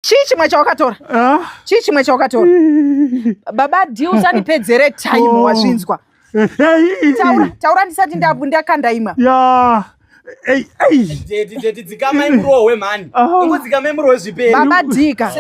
chii chimwe chawakatora ah. chii chimwe chawakatora baba d usanipedzere time oh. wazvinzwa taura taura ndisati ndakandaima yeah. dzikamai murohwe mhani ah. ingodzikamai murohwe zvipebaba dika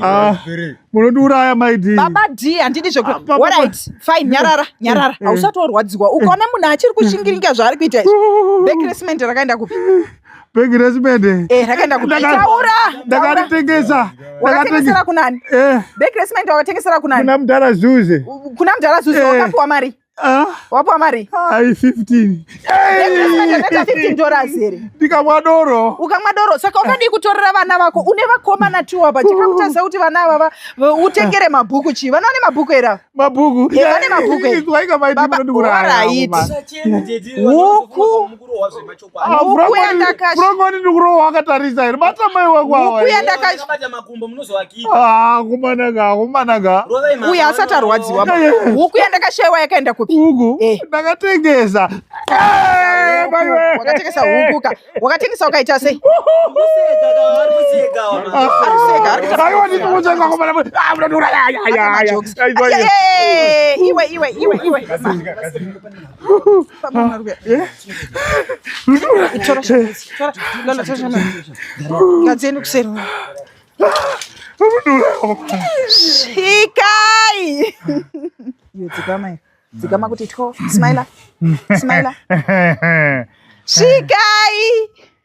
ah. munondiuraya maidi baba d handidi zvekuorit ah, fine nyarara nyarara eh, eh. hausati warwadziwa ukaona munhu achiri kushingiringa zvaari kuita izvi bekresment rakaenda kupi bhegi resimende eh, rakaenda kutaura ndakaritengesa ndakatengesera kunani eh. bhegi resimende wakatengesera kunani kuna mudhara zuze kuna mudhara zuze eh. wakapiwa mari ah. wapiwa mari ai 15 dollars here ndikamwa doro ukamwa doro saka ukadii kutorera vana vako une vakomana tiwo apa chikakutadza kuti vana avava utengere mabhuku chii vana vane mabhuku era mabhuku vane mabhuku here huku Frongoni ndikurowa wakatarisa here bata mai wako awakumanaka akumanaka uye asati arwadziwa huku yandakashaiwa yakaenda kupi huku eh. ndakatengesa eh, wakatengesa huku ka wakatengesa ukaita sei iwe iwe iwe iwe Ngadzeni kuseri. Shikai. Yo dzikama. Dzikama kuti two. Smile. Smile. Shikai.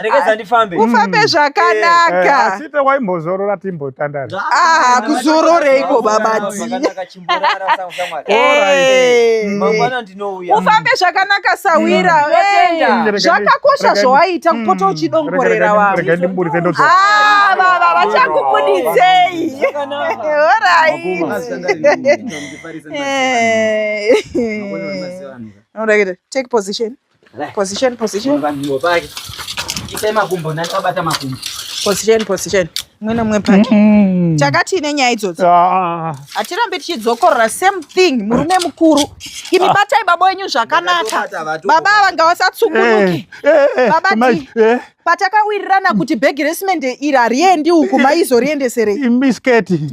rekeza ndifambe ufambe mm. zvakanaka eh, asi te waimbozorora timbotandara ah kuzororeiko babati eh. mm. ufambe zvakanaka sawira mm. zvakakosha zvawaita kupota uchidongorera vamwe ah, baba vachakubuditsei orai eh. take position Position, position. Vanhu pake. Ipe makumbo nani abata makumbo. Position, position. Mwe nomwe pake. Mm. Chakati ine nyaya idzodzi. Ah. Hatirambe tichidzokorora same thing murume mukuru. Imi ah. batai baba wenyu zvakanaka. Baba ava ngavasatsungunuke. Eh, eh, eh, baba ti. Patakawirirana kuti bhegi resimende iri hariendi uku maizoriendeserei. Misketi. Misketi.